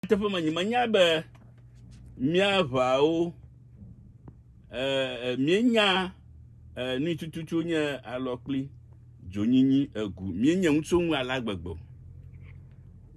Nyateƒe me nyi menya be míaʋawo eh, míenya eh, nui tututu nye alɔ kpli dzonyinyi egu míenye ŋutsu ŋu ala gbegbe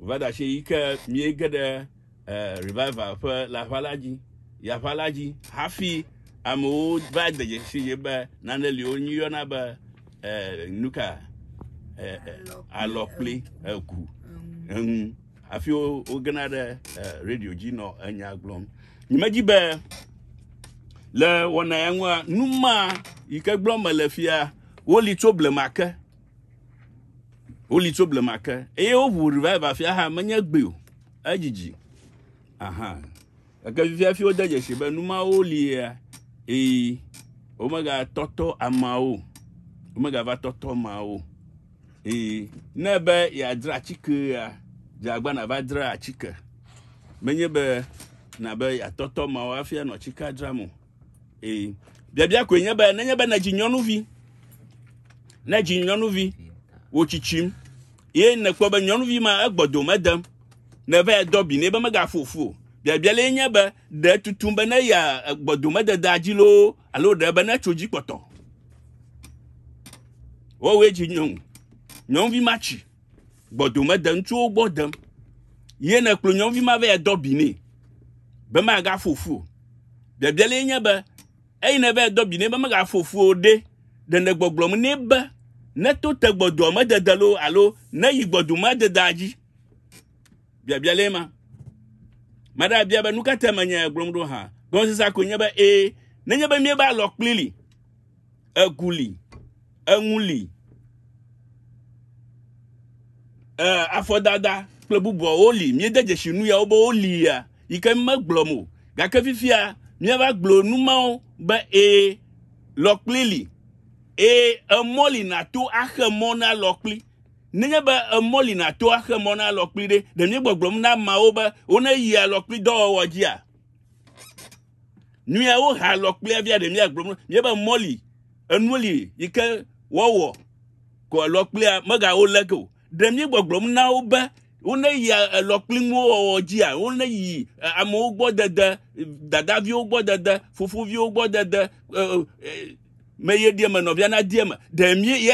va da shi yi ke míege ɖe eh, revival ƒe le aʋa la dzi yi aʋa la dzi hafi amewo va de dzesi ye be nane li wo nyi yɔna be eh, nuka eh, eh, alɔ kpli egu eŋu hafi wogena ɖe radio dzi nɔ enya gblɔm nyimedzi be le wɔna ya ŋua nu ma yi ke gblɔm mele fia woli tso blema ke woli tso blema ke eye woʋu revive afia hã menye gbe o edzidzi aha Gake fifia hafi wode dzesi be nu mawo lia, eye womegatɔtɔ ameawo, womegava tɔtɔ ameawo. Eye ne be yeadzra atikea, dze agba nava dzra atike. Menye be na be yeatɔtɔ ameawo hafi anɔ atikea dzram o. Eye biabia koe nye be nenye be nedzi nyɔnuvi, nedzi nyɔnuvi, wò tsitsim, ye nèkpɔ be nyɔnuvi ma egbɔdome dem nèva yɛ dɔ bi nɛ be megaƒo fu o. Biabia lee nye be, ɖe tutum be ne ya gbɔdomededea dzi loo alo ɖe be netso dzi kpɔtɔ. Wowoe dzi nyɔnu. Nyɔnuvi ma tsi gbɔdomede ŋutsuwo gbɔ dem. Ye nekplɔ nyɔnuvi ma va yɛ dɔ bi nɛ be megaƒo fu o. Biabia lee nye be, eyi neva yɛ dɔ bi nɛ be megaƒo fu o ɖe, ɖe nègbɔgblɔm nɛ be neto te gbɔdomedede loo alo neyi gbɔdomededea dzi Biabia lé ma. Mada bia be nu ka te menye gblɔm ɖo hã. Gɔmesesea koe nye be ee, nenye be míebe alɔkpli li, egu li, eŋu li, eh, afɔdada kple bubuawo li, míede dzesi nu yawo be woli ya, yi ke megblɔm o. Gake fifia míava gblɔ nu mawo be ee, lɔkpli li, ee, emɔ li nàto axe mɔ na lɔkpli. Nenye be emɔ li nàto axe mɔ na alɔkpli ɖe, ɖe míegbɔgblɔm na ameawo be woneyi alɔkpli dɔwɔwɔ dzia? Nui wohe alɔkplia via, ɖe míagblɔm mía be mɔ li, enu li yi ke woawɔ ko alɔkplia megawo le ke o. Ɖe míegbɔgblɔm na wo be woneyi alɔkpli ŋuwo wɔwɔ dzia? Woneyi amewo gbɔ dede, dadaviwo gbɔ dede, fofoviwo gbɔ dede, e, e, me yeɖi eme, nɔvia nadi eme. Ɖe mí ye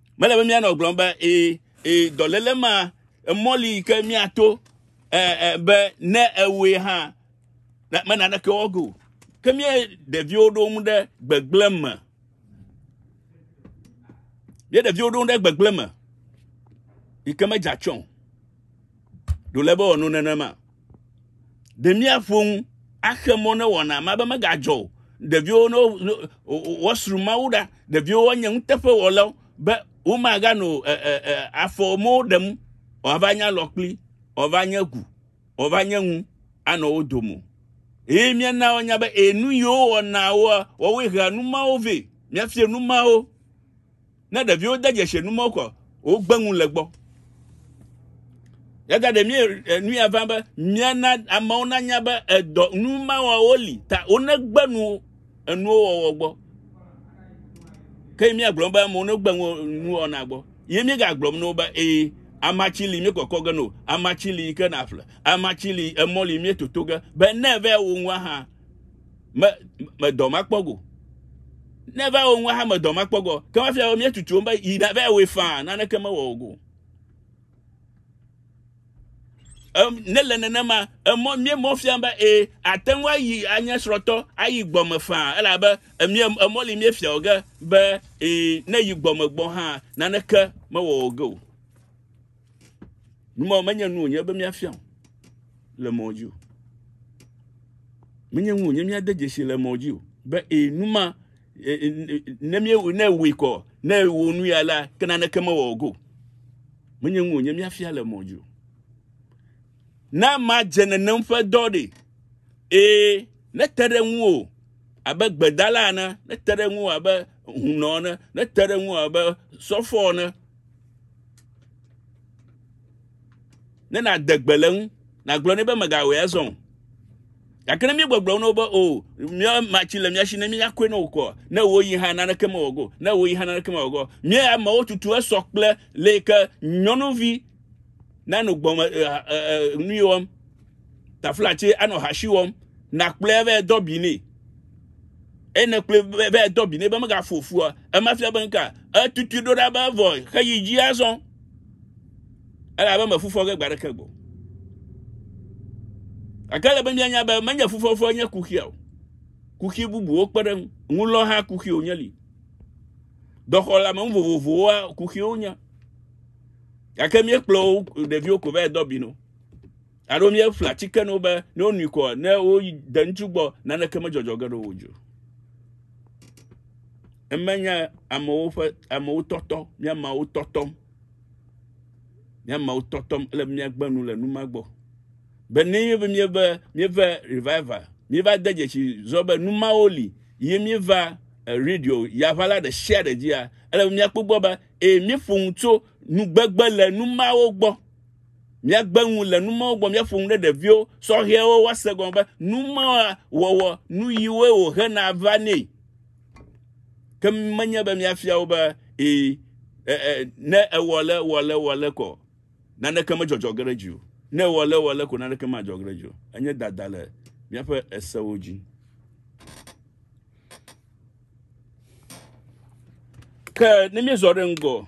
Mele be míanɔ gblɔm be ee, ee, dɔléle ma emɔli yi ke míato be ne ewɔe hã mena ɖeke wɔgo. Ke mía ɖeviwo ɖo ŋu ɖe gbegblẽ me. Mía ɖeviwo ɖo ŋu ɖe gbegblẽ me yi ke medze atsyɔ̃ o. Ɖo le be wòanɔ nenema. Ɖe míaƒo nu axe mɔ ne wɔna ma be megadzɔ o. Ɖeviwo ne woasru Mawu ɖa, ɖeviwo woanye nuteƒewɔlawo be womaganɔ afɔ mɔ ɖem wòava nye alɔ kpli, wòava nye gu, wòava nye ŋu anɔ wo dome. Eye míana woanya be enu yiwo wɔna woa, woawoe hea nu mawo vɛ. Míafia nu mawo. Ne ɖeviwo de dzesi enumɔwo kɔ, wogbe ŋu le gbɔ. Yata ɖe mie eh, nu ya va be miana amewo nanya be edɔ nu mawawo li ta wonegbe nu enuwo wɔwɔ gbɔ. Ke miagblɔ be amewo negbe nu wɔna gbɔ. Ye miegagblɔm no be ee amatsi li miekɔkɔ ge no, amatsi li ke naƒle, amatsi li emɔ li mietoto ge be ne vɛ wo ŋua hã me me dɔ ma kpɔ go ne va wo ŋu ha me dɔ ma kpɔ go ke ma fia mietutu be yi na va wo fa naneke me wɔ go em ne le nenema emɔ mie mɔ fia be e ate ŋu ayi anye srɔtɔ ayi gbɔme fa elabe emie emɔ li mie fia oge be e ne yi gbɔme gbɔ ha naneke me wɔ go Nu mawo menye nu wònye be míafia le mɔ dzi o. Menye nu wònye míade dzesi le mɔ dzi o. Be ee, nu ma, e, e, e, ne míewɔ ne wòe kɔ, ne wò nu ya la, ke naneke mewɔ go. Menye nu wònye míafia le mɔ dzi o. Na madze nenem ƒe dɔ ɖe. Ee, ne te ɖe ŋu o abe gbedala ene, ne te ɖe ŋu abe hunɔ ene, ne te ɖe ŋu abe sɔfɔ ene, ne nàde gbe le ŋu nàgblɔ nɛ be mègawɔe azɔ o gake ne míegbɔgblɔ wo na wo be o mía matsi le mía si ne míakɔe na wò kɔa ne woyi hã naneke mewɔ go ne woyi hã naneke mewɔ go mía amewo tutu esɔ kple le yi ke nyɔnuvi nanɔ gbɔme nu wɔm taflatse anɔ hasi wɔm nakplɔe vɛ dɔ bi nɛ eye nèkplɔe be edɔ bi nɛ be megafu ofua, ema fia be ŋka etutui ɖo ɖa be evɔe heyi dzi azɔ, elabe mefufɔ ge gbe aɖeke gbɔ. Gake ele be mianya be menye fufɔfɔ nye kuxia o, kuxi bubuwo kpe ɖe ŋu lɔ hã kuxi wònye li. Dɔxɔlame nu vovovowoa kuxiwo nye, gake míekplɔ wo ɖeviwo ko va edɔ bi no. Alo míeƒle atike ne wobe ne wonui kɔ ne woyi de ŋutsu gbɔ naneke medzɔdzɔ ge ɖe wo dzi o. Emenye amewo ƒe amewo tɔtɔ míamawo tɔtɔm míamawo tɔtɔm ele be míagbe nu le nu ma gbɔ be ne míeve míeve míeve revival míeva de dzesi zɔ be nu mawo li ye míeva eh, radio yaʋala ɖe sia ɖe dzia ele be míakpɔ gbɔ be ee míeƒo nu tso nugbegbe le nu mawo gbɔ. Míagbe ŋu le nu mawo gbɔ, míaƒo nu ɖe ɖeviwo sɔhɛwo woase gɔme be nu mawo wɔwɔ nu yiwoe wòhena va nɛ. Ke menye be míafia wo be ee, e, e, ne ewɔ le wɔ le wɔ le kɔ naneke medzɔdzɔ ge ɖe dzi o. Ne ewɔ le wɔ le ko naneke madzɔ ge ɖe dzi o. Enye dada le míaƒe esewo dzi. Ke ne míezɔ ɖe ŋgɔ,